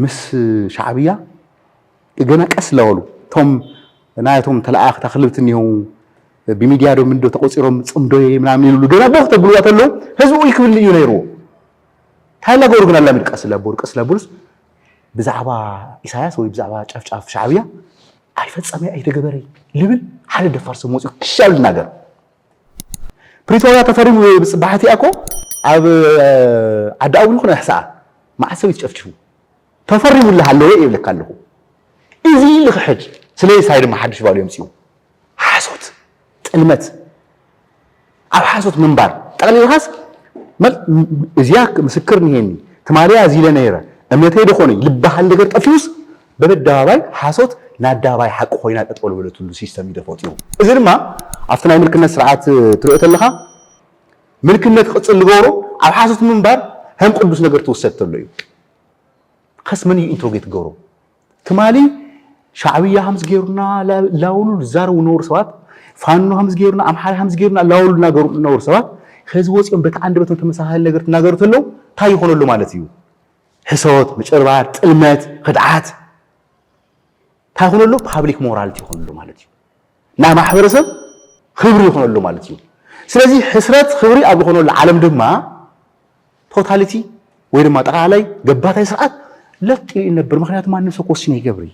ምስ ሻዕብያ ገና ቀስ ላበሉ እቶም ናያቶም ተለኣኣኽቲ ኣኽልብቲ እኒሀው ብሚድያ ዶ ምንዶ ተቆፂሮም ፅምዶዬ ምናምን ይብሉ ገና ቦኽ ተብልዋ ተለው ህዝቢ ኡይ ክብል እዩ ነይርዎ እንታይ ላገበሩ ግን ኣላሚድ ቀስ ላበሉ ቀስ ላበሉስ ብዛዕባ ኢሳያስ ወይ ብዛዕባ ጨፍጫፍ ሻዕብያ ኣይፈፀመይ ኣይተገበረይ ልብል ሓደ ደፋር ሰብ መፅኡ ክሻል ይናገር ፕሪቶርያ ተፈሪሙ ብፅባሕቲኣ እኮ ኣብ ዓዲ ኣውል ኮነ ኣሕሳኣ መዓት ሰብ ይትጨፍጭፉ ተፈሪሙ እለ ሃለወ ይብለካ ኣለኹ እዚ ልኽሕድ ስለዚ ሳይ ድማ ሓድሽ ባሉ የምፅኡ ሓሶት ጥልመት ኣብ ሓሶት ምንባር ጠቕሊልኻስ እዚያ ምስክር ንሄኒ ትማሊያ እዚለ ነይረ እምነተይ ደኾነይ ልበሃል ነገር ጠፊኡስ በበደባባይ ሓሶት ንኣደባባይ ሓቂ ኮይና ጠጠው ልበለትሉ ሲስተም እዩ ተፈጢሩ። እዚ ድማ ኣብቲ ናይ ምልክነት ስርዓት ትሪኦ ተለኻ ምልክነት ክቕፅል ልገብሮ ኣብ ሓሶት ምንባር ከም ቅዱስ ነገር ትውሰድ ተሎ እዩ። ከስ መን እዩ ኢንትሮጌት ክገብሮ ትማሊ ሻዕብያ ከምዚ ገይሩና ላውሉ ዝዛረቡ ዝነበሩ ሰባት ፋኖ ከምዚ ገይሩና ኣምሓራ ከምዚ ገይሩና ላውሉ እናገሩ ዝነበሩ ሰባት ሕዚ ወፂኦም በቲ ዓንደበቶም ተመሳሳሊ ነገር ትናገሩ ተለው እንታይ ይኾነሉ ማለት እዩ? ሕሶት፣ ምጭርባር፣ ጥልመት፣ ኽድዓት እንታይ ይኹነሉ ፓብሊክ ሞራልቲ ይኹነሉ ማለት እዩ። ናይ ማሕበረሰብ ኽብሪ ይኹነሉ ማለት እዩ። ስለዚ ሕስረት ኽብሪ ኣብ ዝኾነሉ ዓለም ድማ ቶታሊቲ ወይ ድማ ጠቕላላይ ገባታይ ስርዓት ለጥ ኢሉ ይነብር። ምክንያቱ ማንም ሰብ ክወስን ይገብር እዩ።